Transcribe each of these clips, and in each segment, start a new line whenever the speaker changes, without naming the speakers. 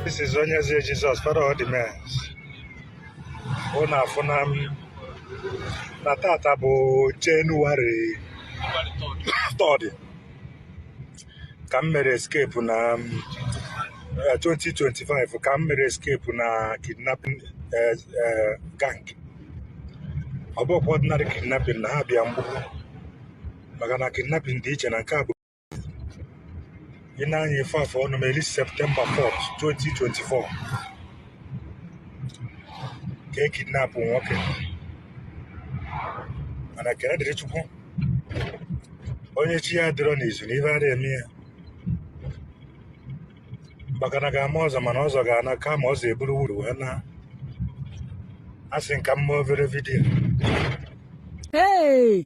This is Onyeze Jizọs Father of the men ụnụ afụna m na tata bụ Jenụwarị 3rd ka m mere escape na m, eh, 2025 ka m mere escape na kidnapping eh, eh, gang ọ bụrọ ordinary kidnapping na ha bịa mgbukpọ maka na kidnapping dị iche na nke a bụ ị na-anya ife afọ ọnụ meli September 4 2024 ka e kidnapụ nwoke mana ekene dịrị chukwu onye chi ya adịrọ n'izu na ife adịghị eme ya maka na ga-ama ọzọ mana ọzọ ga-ana kama ọzọ eburu wuru wee na asị m ka m mee obere vidiyo Hey!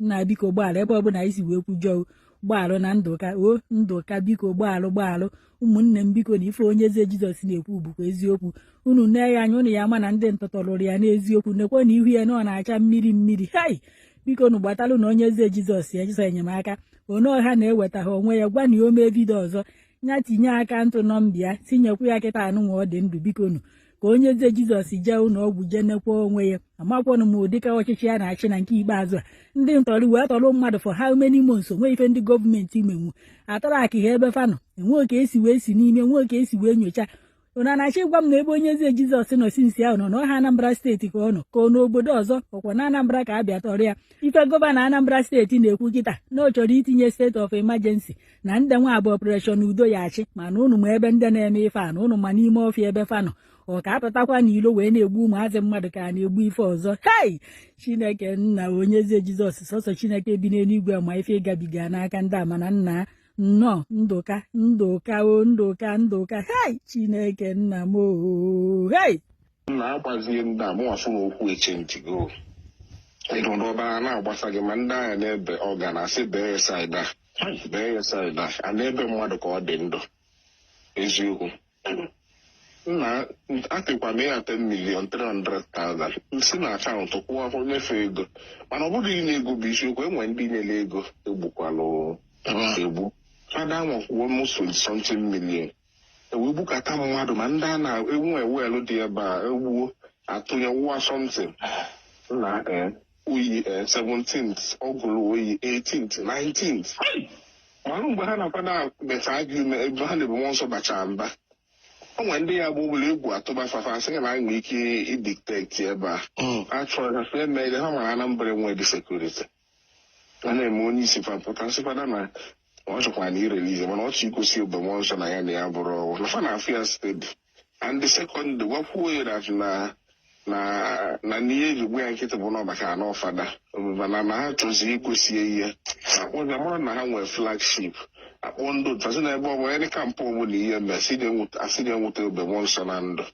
nna biko gbaalụ ebe ọbụla anyị si wee kwujọọ gbaalụ na ndụ ka o ndụ ka biko gbaalụ gbaalụ ụmụnne m biko na ife Onyeze jizọs na-ekwu bụkwa eziokwu unu nee ya anya ụnụ ya-ama na ndị ntọ tọlụ ya n'eziokwu nekwe na ihu ya na ọ na-acha mmiri mmiri hai biko nu gbatalụnụ Onyeze jizọs ọsọ enyemaka onye ọha na-eweta ha onwe ya gwanụ ya o mee vidio ọzọ ya tinye akaụntụ nọmba ya tinyekwu ya kịtaa nụnwa ọ dị ndụ biko nu ka Onyeze jizọs jee ụlọ ọgwụ jee nekwa onwe ya amakwanụ m ụdịka ọchịchị ya na-achị na nke ikpeazụ a ndị ntọrị wee tọrọ mmadụ for how many months o nwee ife ndị gọọmenti menwu a trackịa ebe fa nọ e nwee ka e si wee si n'ime e nwee ka e si wee nyocha ụnụ na-achọ ịgwa m na ebe Onyeze jizọs nọ since ahụ nọ na ọha anambra steeti ka ọ nọ ka ọ n'obodo ọzọ ọ kwa na anambra ka a bịa tọrọ ya ife gọvanọ anambra steeti na-ekwu kịta na ọ chọrọ itinye state of emergency na ndị nwa bụ Operation Udo ga-achị mana ụnụ ma ebe ndị na-eme ife a na ụnụ ma n'ime ọfịa ebe fa nọ ọ ka a pụtakwa n'ilo wee na-egbu ụmụazị mmadụ ka a na-egbu ife ọzọ hei chineke nna Onyeze jizọs sọsọ chineke bi n'eluigwe ma ife ị gabiga n'aka ndị a mana nna nnọọ ndụ ka ndụ ka o ndụ ka ndụ ka hei chineke nna m oo hei na
agbazie ndị a mụwa fụ na okwu eche ntị go ịdụdụ ọbara na-agbasa gị ma ndị a ha na-ebe ọga na-asị bee side a Bee side a a na-ebe mmadụ ka ọ dị ndụ eziokwu nna atịkwa m ya 10 million 300,000 m si na akaụntụ kwụọ afọ nyefe ego mana ọ bụrụ inye ego bụ isiokwu e nwe ndị nyere ego e gbukwalụ egbu fada nwakwuo m so something million e wee gbukata mmadụ ma ndị a na-enwe well dị ebe a e gbuo a tụnye wụwa something na eh, oyi eh, 17th ọ gụrụ oyi 18th 19th manụ mgbe ha na-akwado beta agụme ebe ha na-ebu mmụọ nsọ bachara mba ọ nwere ndị ya bụ ụbụla egwu atụba fafa asị gị na anyị nwere ike idetect ebe a Mm. achọrọ ha fe emeghị ha mara anambra enwe dị security a na-eme onye isi fa pụta sịkwa fada na ọ chọkwara na irelease mana ọ chọ igosi Ebube mmụọ nsọ na ya na ya bụrụ ọgwụ na fa na ọfịa steady and the second gwakwuo ya that na na na n'ihe e ji gba ya nkịtị bụ na maka na ọ fada mana na ha chọzi igosi ihe akpọ na mara na ha nwere flagship akpọ ndị otu asị na ebe ọbụla dị camp ọbụla ihe mere asị na-enweta Ebube mmụọ nsọ na ndụ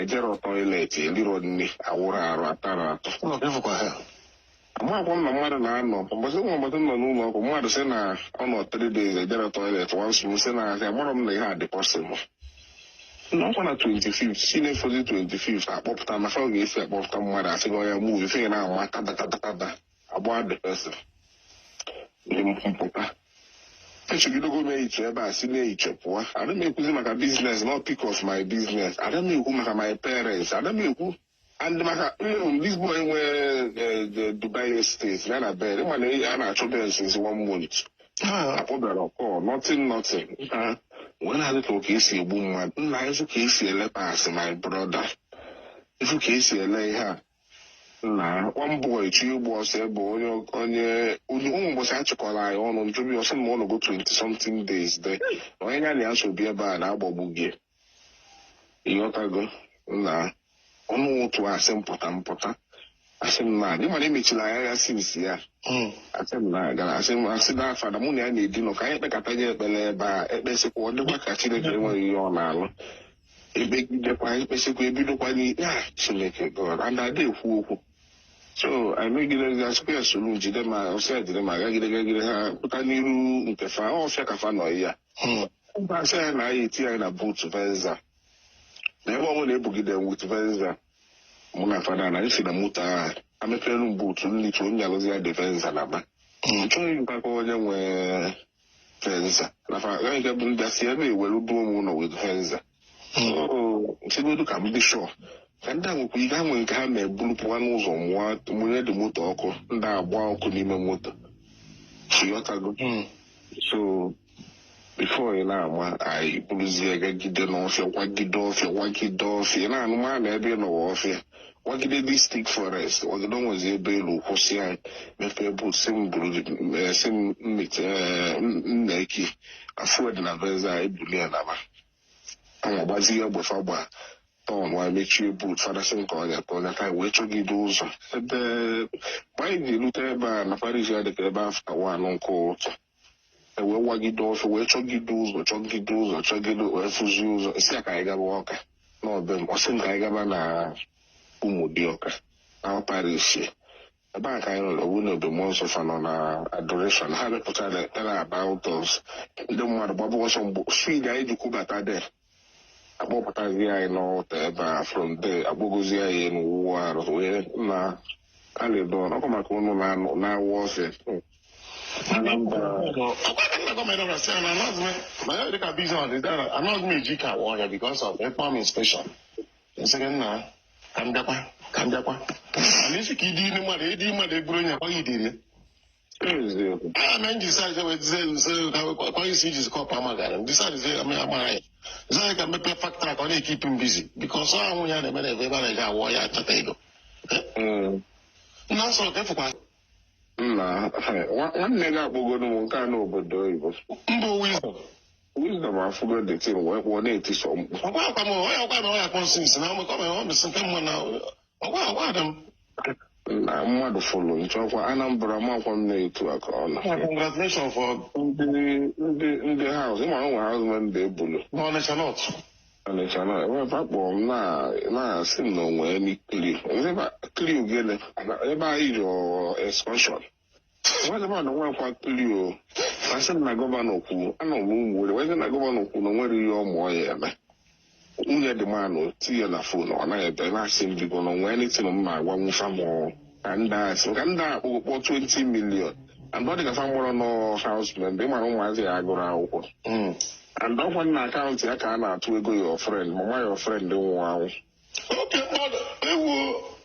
ejerọ toilet elirọ nni awụrọ arụ atarọ atụ ụlọ ka ịfụkwa ha amakwa m na mmadụ na-anọ ụbọchị nwa ụbọchị nọ n'ụlọ ọgwụ mmadụ sị na ọ nọ three days ejerọ toilet once m sị na asị amarọ m na ihe a dị possible na ọkwa na 25 si na-efozi 25 akpọpụta na ka a ga-esi akpọpụta mmadụ asị gị ọya move ife na-ama kada kada kada agba the person dị mpụta echegidego m echiche ebe a si n'echiche pụọ ada m ekwuzi maka business not speak of my business ada m ekwu maka my parents ada m ekwu and maka mm, this boy nwee eh, the dubai estate ya na Ben mana a na-achọ Ben since one month Ah, akpọbarọ oku nothing nothing Ah, wee na-adị ka ka esi egbu mmadụ nna ịfụ ka esi ele parts my brother ịfụ ka esi ele ihe a na one boy chọ ịgba ọsọ ebe onye onye onye ụmụ ụbọchị achịkọrọ anyị ọnụ ntụbi ọsọ ma ọ nọgo 20 something days de na onye ya na ya so bi ebe a na-agbagbu gị ịghọtago na ọnụ ụtụtụ asị m pụta m pụta asị m na the man a emechiri anya ya since ya Mm. asị m na gara asị m asị na fada mụ na ya na-edinọ ka anyị kpekọta nye ekpere ebe a ekpesịkwa ọ dịkwa ka chineke enweghị ihe ọ na-alụ ekpegidekwa ekpesikwa ebidokwa na-ekpe a chineke god and ada ekwu okwu so anyị megidere asịkwa ya soro jide ma ọsị ya jide ma gagide gagide ha pụta n'iru nke fa ọfịa ka fa nọ ya mba asị ya na anyị tinye anyị na boot Venza na ebe ọbụla ebugide with Venza mụ na fada na anyị si na moto a amepere m boot nlicha onye alụzi ya the Venza na ba chọghị mkpakọ onye nwe Venza na fa agaghị ga bụ ndị asị ya na-ewere duo m ụnọ with Venza chegodu ka m dị sure ka ndị a nwekwa ihe ha nwere nke ha na-eburu pụwa n'ụzọ mụọ mụnye the moto ọkụ ndị agba ọkụ n'ime moto ịghọtago so before ị na-ama anyị buruzie gagide n'ọfịa wagide ọfịa wagide ọfịa ị na-anụ ma na ebe ị nọwa ọfịa wagide this thick forest wagide onwezi ebe e lu kwụsị anyị mepee boot sị m buru eh, si m mmete eh, m- m na AK afụ dị na Venza anyị buli ya naba anyị agbazi ya egbe fa gba tọn wee mechie boot fada sị m ka ọnya ka ọnya ka anyị wee chọgide ụzọ ebe mgbe anyị ga-erute ebe a na parish ya dịka ebe after one nke ụtụtụ ewee wagide ọfịa wee chọgide ụzọ chọgide ụzọ chọgide wee fụzi ụzọ sị ya ka anyị gaba Ọka n'ọbe m ọsị m ka anyị gaba na Ụmụdịọka na parish ebe a ka anyị nọrọ wụ na Ebube Mmụọ Nsọ fa nọ na adoration ha mepụtara tara about us ndị mmadụ gbaba ọsọ mgbe speed anyị ji kwubata there akpọpụtazi anyị n'ọta ebe a from there akpọgozi anyị elu wụọ arụ wee na kalidon ọkụ maka ụnụ na-anụ- na-awụ ọsị
Anambra anaghị m eji car awa ọhịa because of farm inspection nsịrị nna ka m bịakwa ka m bịakwa mana isi ka ịdị ime mmadụ ịdị mmadụ eburu onye akwaghị idiri a na nji sa je wezi nse kwa isi iji zikọ pa magara ndị sa zi ame amara ya zai ka mepe factory ka ọ na-ekeep him busy because ọ anwụ ya na-eme na ebe ebe a na-eji awọ ya achọta ego nna nsọ ka efukwa
nna nwa- nwanne gị akpọgoro m nke a n'obodo oyibo mba owu
izu wisdom
afụgo the thing wee kpọọ na-eti sọ mkpu ọkwa akwa m ọya ọkwa na ọya kpọnsins na ọmụkọ mere ọ mesị nke mma na na mmadụ fụlụ nchọkwa Anambra makwa m na-etu aka ọnụ congratulation for
ndị ndị
ndị house ịma nwe house member ebulu n'Ọnịcha
North Ọnịcha na
ebe akpọrọ m na-asị m na onwe emi kliu ebe anyị rịọ excursion nwanne m anọ nwakwa tuli o asị m na gọvanọ kwuru anọ m ụmụ were wee sị na gọvanọ kwuru na o nwere ihe ọ mụọ ya eme nwunye dị manụ tinye na phone ọ naghị ebe na-asị m biko na onwee anything m na-agwa nwụfa m ka ndị a sị ka ndị a kpọgo kpọọ 20 million and ọ dị ka fa marọ nọ house member ịmara ụmụazị ya agụrụ akwụkwọ and ọkwa na akaụntụ ya ka a na-atụ ego your friend ma nwa your friend nwụọ anwụ oke mmadụ ewu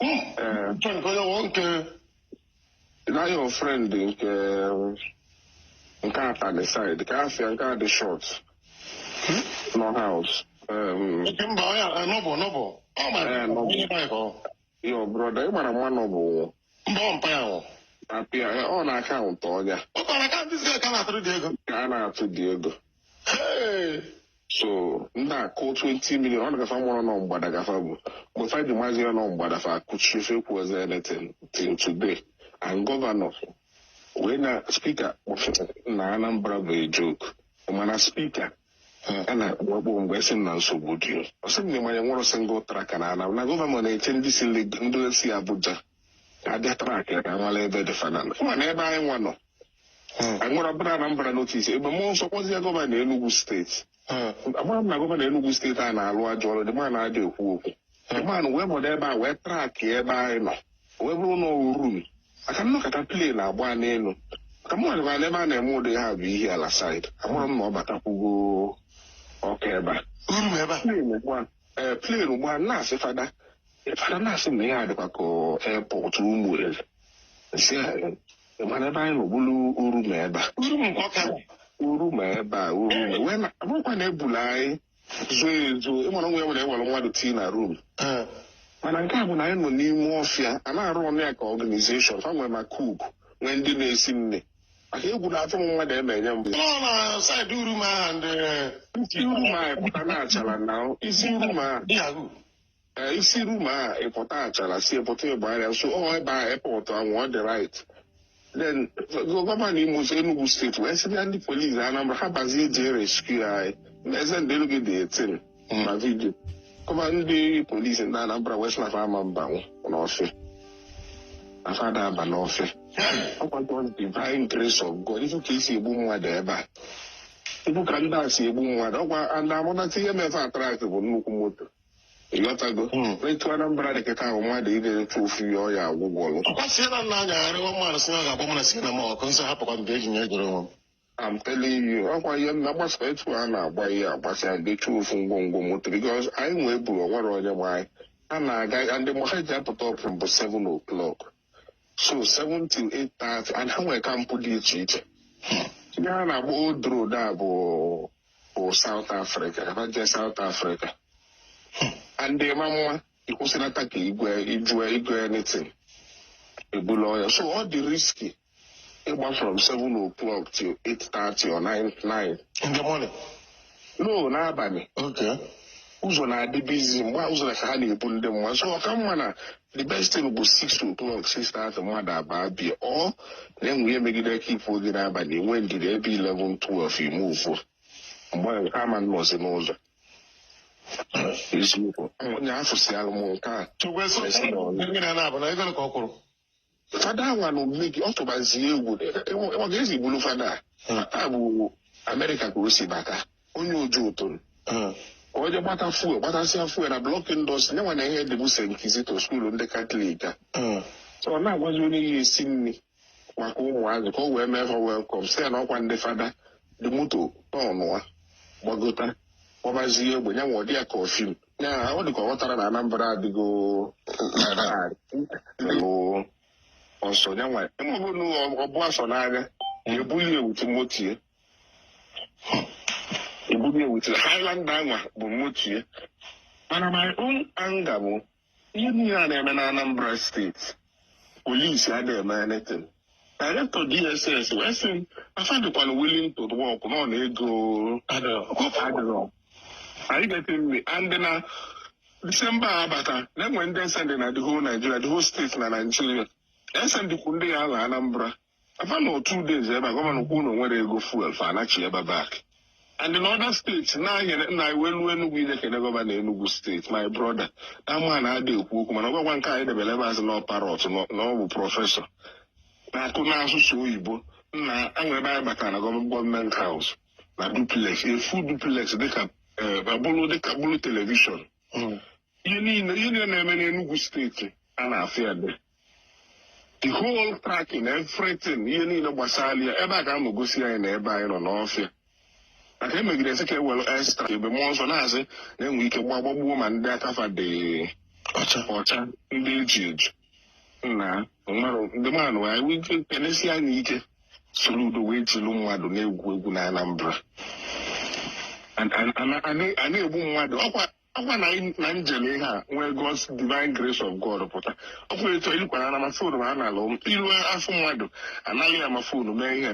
Ee. nke onye nwe nke na your friend nke nke Atani side ka afịa nke a dị short nọ house um, Oke mba ọ ya nọbụ nọbụ ọ ma Eh, nọbụ. onye mpa ya ka ọ your brother ị mara mma nọ bụ mba ọ mpa ya nwụ apịa eh, ọ na akaụntụ onye a ọ kọrọ ka ndị zga ka na-atụrụ dị ego ka a na-atụ dị ego Hey! so ndị akwụ 20 million ọ nagafa marọ nọ mgbada ka fa bu mgbe fa ji mazi ya nọ mgbada fa akụchi fa ekwuozi anything till today and gọvanọ wee na speaker kpọfere na Anambra bụ a joke mana speaker a na-akpọ akpọ mgbe esi m na nsogbu dị ọ sị m na ịma na e nwerọ single tracker na Anambra na gọvanọ na-eche ndị si Leg- ndị si Abuja ka abịa track ka amala ebe dị fanana mana ebe anyị nwa nọ e wee bụrụ na Anambra North Ebube Mmụọ Nsọ kpọzie gọvanọ Enugu steeti agwara m na gọvanọ Enugu steeti a na-alụ ajọ ọrụ the man adị ekwu okwu the man wee bọdo ebe a wee trakị ebe anyị nọ wee bụrụ na Urum Ọka nnọkọta plen na-agba n'elu ka m nwere ebe a na-eme ụdị ha bụ ihe ala said anụrụ m na ọ batakwugo Ọka ebe a ee plen ugbu a na-asị fada fada na-asị na ihe a dịkwa ka airport Ụmụeri si mana ebe anyị nọ bụlụ Urum ebe a Urum Ọka. Urum ebe a Urum wee na abụrọkwa na ebulu anyị zuo ezuo ịmara na enwere ewere mmadụ tii na rum Eh, mana nke a bụ na anyị nọ n'ime ọfịa a na-arọnụ ya ka ọganizeshọn fa nwere ma kuku nwee ndị na-esi nni maka egwu na-atụ m mmadụ eme enye m nọ na saịdị
Urum ahụ i si Urum
a ịpụta na Achalla na i si Urum ahụ ee, i si Urum a ịpụta Achalla si ịpụta Igbariam so ọ ebe airport ahụ dị right then gọvanọ Imo so Enugu steeti wee sị ya ndị polisi Anambra ha bazie jee rescue anyị eze ndị Enugu dị 18 na vidio kama ndị polisi ndị Anambra wee sị na fa ama abanwu n'ọfịa na fa ada aba n'ọfịa ọkwa nke ọ dị divine grace of God ifu ka esi egbu mmadụ ebe a ifu ka ndị a si egbu mmadụ ọkwa ndị amụnata ihe me fa atrak bụ nnukwu moto ịghọtago etu Anambra dị kịta ahụ mmadụ ị ga-eretu ofu ya ọ ya agwụgwọlụ Ọkwa si na
anyagharịwa mmadụ si na ọ ga-agba mụ na si na m ọkụ nsọ hapụkwa mgbe eji nye goro onwe m. I'm
telling you, ọkwa ihe m na-agbasa etu a na-agba ihe agbasi anyị dechuo ofu ngwongwo moto because anyị nwee buru onwere onye mụ na ya na-aga ndị mgbe ha ji apụta ọpụ mbụ 7 o'clock so 7 till 8:30 and ha nwere kampụ dị iche iche ihe a na-agba old road a bụ bụ South Africa ha jee South Africa and ma mma ịkwụsịlata ka igwe ijue igwe anything ọbụla ọya so ọ dị riski ịgba from 7 o'clock to 8:30 or 9 9 in
the morning
no n'abalị
okay ụzọ na-adị
bizi mgbe a ụzọ na ka ha na-ebu ndị mmadụ so ọka mma na the best thing bụ 6 o'clock 6:30 mmadụ abaa be ya ọ na-enwe ihe megide ka ifu oge n'abalị enwe ndidi ebe 11 12 ime muuv mgbe ahụ ha ma nọzi n'ụzọ eziokwu onye afụsịara m nke a Chukwu eso Yes, Lord. mmiri na-abụ na ego ka ọ kwụrụ fada anwanụ mme gị ọ tụbazie egwu ọ kazi bụlụ fada a bụ Amerịka ka o si bata onye Ojoto o je gbata fuel gbatasịa fuel na blọk indọstrị nyanwa na ihe dịbụ St Kizito skuulu ndị Katọlik a so ọ na-agwazi onye ya esi nri maka ụmụazị ka o wee mee ha welkọm si ya na ọkwa ndị fada the moto tọnụa gbagota kpọbazie egbe nyanwa ọdị ya ka ọ fim Ya, ọ dịka ọ ghọtara na Anambra adịgo lụ ọsọ ya nwa ịmụbụ na ọbụ asọ n'anya na-ebuli ewu timotie ebuli ewu timotie Highlander a nwa bụ moto ya mana my own anger bụ ihe niile a na-eme na Anambra steeti polisi adịghị eme anything director dss wee sị na fa dịkwanụ willing to work nọ na ego adịrọ anyị getị nri and na disemba abata na e nwere ndị e sendị na the whole Nigeria the whole steeti na Nigeria e sendịkwu ndị ya ala Anambra fa nọ two days ebe a gọvanọ kwuo na o nwerọ ego fuel fa anachi ebe back and in other states na-anyere nna anyị wee luo Enugu ije kene gọvanọ Enugu steeti my brother na ama na adị ekwu okwu mana ọ gwakwa nke anyị debere ebe azụ na parrot na ọ bụ prọfesọ na-akụ n'asụsụ oyibo na e nwere ebe anyị batara na gọọmenti haus na duplex a full duplex dịka bụrụ dịka bụrụ telivishọn ihe niile ihe niile na-eme n'Enugu steeti a na-afụ ya dị the whole tracking everything ihe niile gbasara ya ebe a ka m gosi anyị na ebe anyị nọ n'ọfịa maka emegide sị ka e were extra ebe mmụọ nsọ na-asị na enwe ike gba gbagbuo ma ndị aka fa dị ọcha ọcha ndị e ji eji nna nwere ndị mmadụ wee nwee ike ka e nesi anya ike soro udo wee jilu mmadụ na-egwu egwu na Anambra a na-egbu mmadụ ọkwa ọkwa na anyị- na njele ihe a nwee God's divine grace of God pụta ọkwa etu anyị kwara na ma fon ma a na-alụ m iru afọ mmadụ anaghị ya ma fon mee ihe